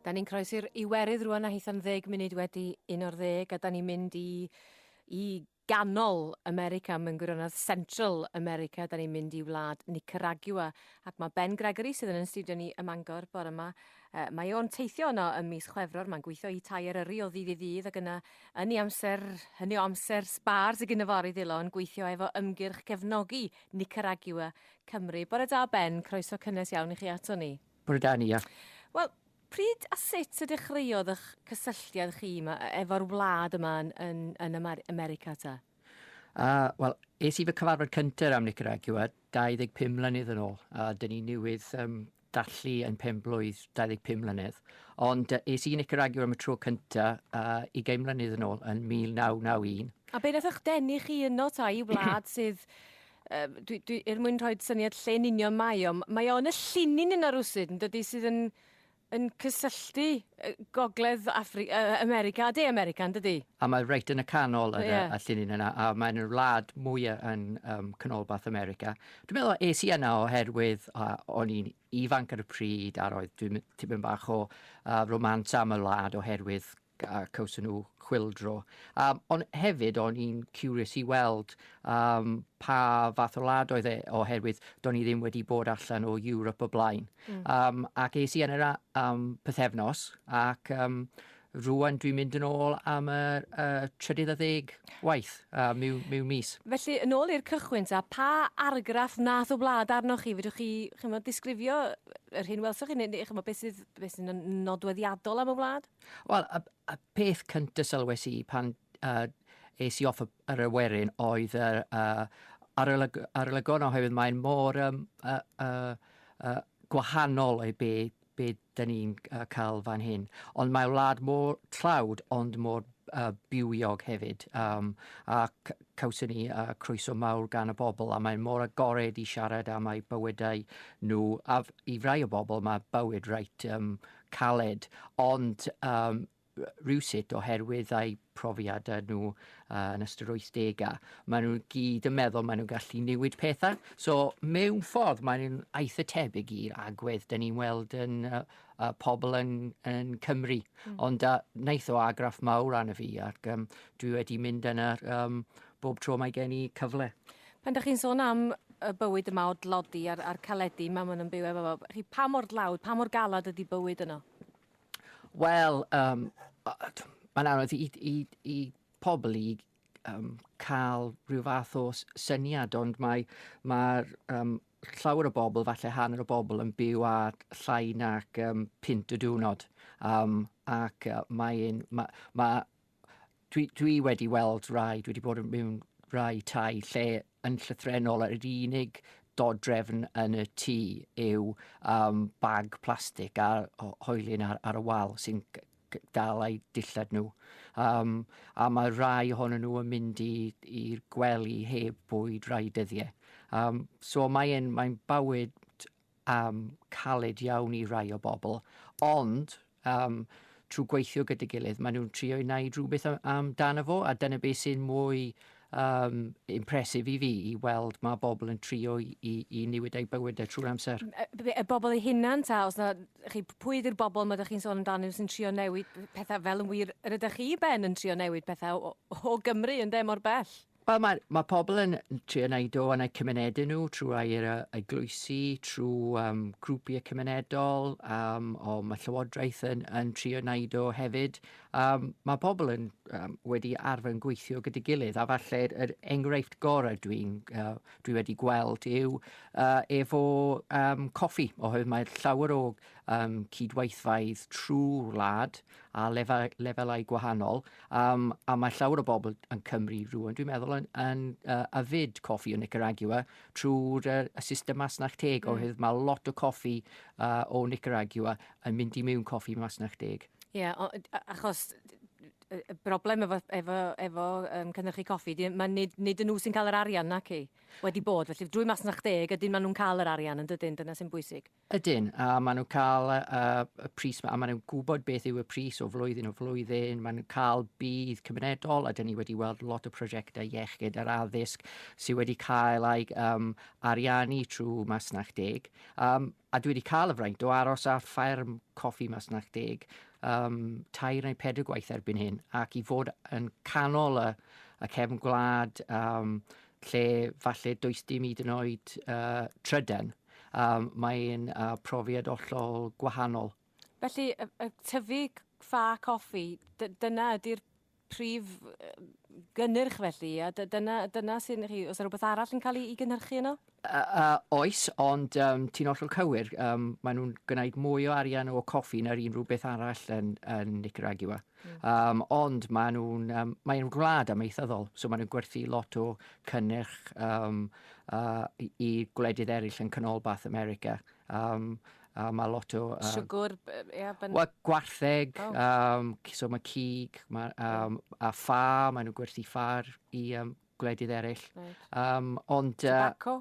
Da ni'n croesi'r Iwerydd rwan a hitha'n ddeg munud wedi un o'r ddeg a da ni'n mynd i, i ganol America, mae'n gwirionedd Central America, da ni'n mynd i wlad Nicaragua ac mae Ben Gregory sydd yn yn studio ni ym Mangor bore yma. Uh, mae o'n teithio yno ym mis Chwefror, mae'n gweithio i tai Eryri o ddydd i ddydd ac yna yn ei amser, hynny o amser sbar sydd gyda fo ar ei ddilon, gweithio efo ymgyrch cefnogi Nicaragua Cymru. Bore da Ben, croeso cynnes iawn i chi ato ni. Britannia. Wel, pryd a sut y dechreuodd ych cysylltiad chi ma- e- efo'r wlad yma yn, yn, yn Amer- America ta? A, wel, es i fy cyfarfod cyntaf am Nicaragua 25 mlynedd yn ôl, a dyn ni newydd um, dallu yn pen blwydd 25 mlynedd. Ond uh, es i i Nicaragua am y tro cyntaf uh, 20 mlynedd yn ôl, yn 1991. A be nath eich denu chi yno ta i wlad sydd Yy dwi dwi er mwyn rhoid syniad lle yn union mae o m- mae o yn y llinyn yna rywsut yndydi sydd yn yn cysylltu yy gogledd Affri- yy America a de America yndydi? A mae reit yn y canol yn y... Ie. ...y llinyn yna a mae'n yr wlad mwya yn yym canolbarth America. Dwi'n meddwl es i yna oherwydd yy o'n i'n ifanc ar y pryd a roedd dwi'n m- tipyn bach o yy romance am y wlad oherwydd a cawson nhw chwyldro. Um, ond hefyd, o'n i'n curious i weld um, pa fath o lad oedd e, oherwydd do'n i ddim wedi bod allan o Europe o blaen. Mm. Um, ac es i yn yr um, pythefnos, ac um, rwan dwi'n mynd yn ôl am y, y trydydd a ddeg waith uh, mewn, mewn mis. Felly, yn ôl i'r cychwyn, ta, pa argraff nath o wlad arnoch chi? Fydwch chi, chi'n disgrifio yr hyn welsoch chi, neu, neu chi'n beth sydd, beth sydd nodweddiadol am y wlad? Wel, y y peth cynta sylwes i pan yy es i off y yr awyren oedd yr yy arolyg- arolygon oherwydd mae'n mor yym yy yy yy gwahanol i be be 'dyn ni'n yy ca'l fan hyn. Ond mae wlad mor tlawd ond mor yy bywiog hefyd yym a c- cawson ni yy croeso mawr gan y bobl a mae'n mor agored i siarad am eu bywydau nhw a f- i rai o bobl mae bywyd reit yym caled, ond yym rywsut oherwydd eu profiadau nhw uh, yn ystod yr 80au, maen nhw gyd yn meddwl maen nhw'n gallu newid pethau. So mewn ffordd maen nhw'n eitha tebyg i'r agwedd dyn ni'n weld yn uh, uh, pobl yn, yn Cymru. Mm. Ond uh, wnaeth o argraff mawr arno fi ac um, dwi wedi mynd yna um, bob tro mae gen i cyfle. Pan 'dach chi'n sôn am y bywyd yma o dlodi a'r a'r caledi 'ma ma' nw'n byw efo fo b- chi pa mor dlawd pa mor galad ydi bywyd yno? Wel yym o- yy t- ma'n anodd i i i pobl i yym ca'l rhyw fath o s- syniad ond mae ma'r yym llawer o bobl falle hanner y bobl yn byw â llai nac yym punt y diwrnod yym ac yy mae e'n ma' ma' dwi, dwi wedi weld rai, dwi wedi bod mewn rai tai lle yn llythrenol yr unig dodrefn yn y tŷ yw um, bag plastig a hoelun ar, ar y wal sy'n dal ei dillad nhw. Um, a mae rai ohonyn nhw yn mynd i'r gwely heb bwyd rai dyddiau. Um, so mae'n mae bywyd am caled iawn i rai o bobl, ond yym trwy gweithio gyda'i gilydd maen nhw'n trio i wneud rhywbeth amdano fo a dyna beth sy'n mwy um, impresif i fi i weld mae bobl yn trio i, i, i niwyd eu bywydau trwy'r amser. Y, y bobl eu hunan ta, os na, chi, pwy ydy'r bobl mae ydych chi'n sôn amdano sy'n trio newid pethau fel yn wir, yr ydych chi ben yn trio newid pethau o, o Gymru yn de mor bell? Wel mae mae pobl yn trio wneud o yn eu cymunedau nhw trwy air y eglwysi, trwy um, grwpiau cymunedol, um, o mae Llywodraeth yn, yn trio wneud o hefyd. Um, mae pobl yn um, wedi arfer yn gweithio gyda gilydd, a falle yr enghraifft gorau dwi'n uh, dwi wedi gweld yw uh, efo um, coffi, oherwydd mae llawer o um, cydweithfaidd trwy wlad, a lefel, lefelau gwahanol, um, a mae llawer o bobl yn Cymru rhywun, dwi'n meddwl, yn, yn uh, afyd coffi o Nicaragua trwy'r uh, y system masnach teg, mm. oherwydd mae lot o coffi uh, o Nicaragua yn mynd i mewn coffi masnach teg. Ie, yeah, achos y broblem efo, efo, efo um, cynnychu coffi, di, mae nid, nid yn nhw sy'n cael yr arian nac i wedi bod. Felly drwy masnach deg, ydyn maen nhw'n cael yr arian yn dydyn, dyna sy'n bwysig. Ydyn, a maen nhw'n cael y, y pris yma, a maen nhw'n gwybod beth yw y pris o flwyddyn o flwyddyn, maen nhw'n cael bydd cymunedol, a dyn ni wedi weld lot o prosiectau iechyd yr addysg sydd wedi cael ei um, ariannu trwy Masnach Deg. Um, a dwi wedi cael y fraint o aros ar ffairm coffi Masnach Deg um, tair neu pedr gwaith erbyn hyn, ac i fod yn canol y, y cefn gwlad um, lle falle does dim hyd yn oed uh, trydan Yym, mae'n profiad ollol gwahanol. Felly, tyfu ffa coffi, dyna ydy'r prif gynnyrch felly, a dyna, dyna sy'n chi, os yna rhywbeth arall yn cael ei gynhyrchu yno? Oes, ond um, ti'n ollol cywir, um, maen nhw'n gwneud mwy o arian o coffi na'r unrhyw beth arall yn, yn Nicaragua. Um, ond maen nhw'n um, mae gwlad amaethyddol, so maen nhw'n gwerthu lot o cynnyrch um, uh, i, i gwledydd eraill yn canolbarth America. Um, a mae lot o... Uh, Siwgwr, ie. Yeah, ben... well, gwartheg, oh. um, so mae cig, ma, um, a ffa, maen nhw'n gwerthu ffar i um, gwledydd eraill. Right. Um, ond... Uh, Tobacco?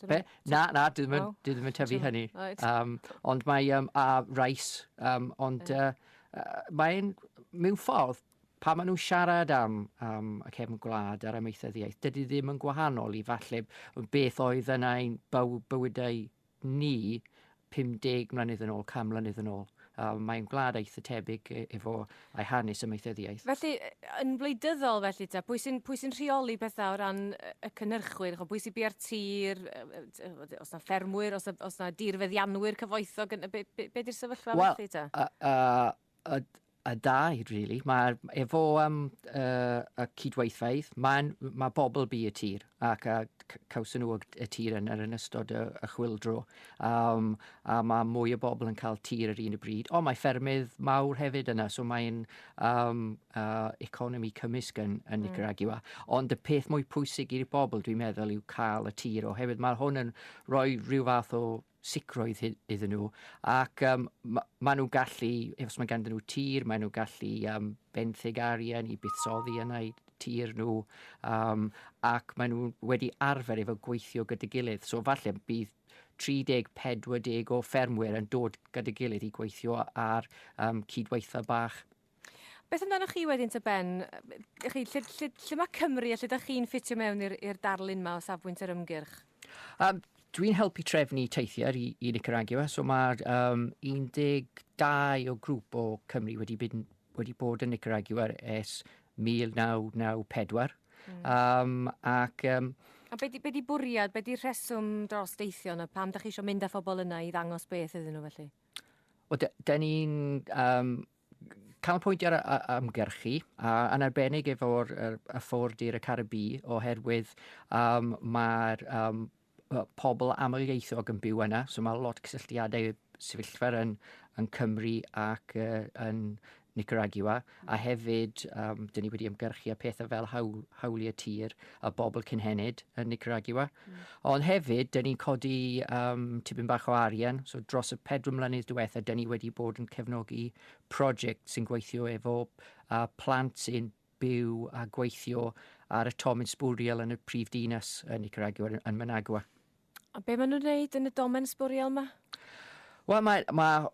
Be? Na, na, dwi ddim yn, oh. dwi ddim yn tyfu hynny. Right. Um, ond mae um, a rais, um, ond uh, uh, mae'n mewn ffordd, pa maen nhw'n siarad am, am y cefn gwlad a'r amaethyddiaeth, dydy ddim yn gwahanol i falle beth oedd yna ein bywydau ni 50 mlynedd yn ôl, 100 mlynedd yn ôl. A mae'n gwlad eitha tebyg e- efo ei hanes amaethyddiaeth. Felly, yn wleidyddol felly ta, pwy sy'n pwy sy'n rheoli pethau o ran y cynhyrchwyr, ch'o' pwy sy bia'r tir, os na ffermwyr, os na os na dirfeddianwyr cyfoethog yn be' be' be' 'di'r sefyllfa felly ta? Wel, yy yy y, y dau, really. Mae efo um, uh, y cydweithfeydd, mae'n mae bobl bu y tir ac a cawson nhw y tir yn, yn ystod y, y chwildro. Um, a mae mwy o bobl yn cael tir yr un y bryd. Ond mae ffermydd mawr hefyd yna, so mae'n um, uh, economi cymysg yn, yn mm. Nicaragua. Ond y peth mwy pwysig i'r bobl, dwi'n meddwl, yw cael y tir oherwydd mae hwn yn rhoi rhyw fath o sicrwydd hyn iddyn nhw. Ac um, ma, maen nhw'n gallu, os mae ganddyn nhw tir, maen nhw'n gallu um, benthyg arian i buddsoddi yna i tir nhw, um, ac maen nhw wedi arfer efo gweithio gyda gilydd. So falle bydd 30-40 o ffermwyr yn dod gyda gilydd i gweithio ar um, cydweitha bach Beth amdanoch chi wedyn ta Ben? Ych chi, lle, lle, lle mae Cymru a lle ydych chi'n ffitio mewn i'r darlun yma o safbwynt yr ymgyrch? Um, Dwi'n helpu trefnu teithiau i, i Nicaragua, so mae um, 12 o grŵp o Cymru wedi, byd, wedi bod yn Nicaragua ers 1994. Mm. Um, ac, um, a be di, be di bwriad, be di rheswm dros deithio yna? Pam da chi eisiau mynd â phobl yna i ddangos beth iddyn nhw felly? Wel, de, de ni'n um, canolbwyntio ar, ar, ar ymgyrchu, a, yn arbennig efo'r er, y ffordd i'r y Caribi, oherwydd um, mae'r um, pobl amlieithog yn byw yna, so mae lot cysylltiadau sefyllfa yn, yn Cymru ac uh, yn Nicaragua, a hefyd um, dyn ni wedi ymgyrchu a pethau fel hawl, hawliau tir a bobl cynhenid yn Nicaragua. Mm. Ond hefyd, dyn ni'n codi um, tipyn bach o arian, so dros y pedro mlynedd diwetha, dyn ni wedi bod yn cefnogi prosiect sy'n gweithio efo uh, plant sy'n byw a gweithio ar y Tomin Sbwriel yn y prif dinas yn Nicaragua, yn Managua. A be maen nhw'n gwneud yn y domen sbwriel yma? Wel, mae, mae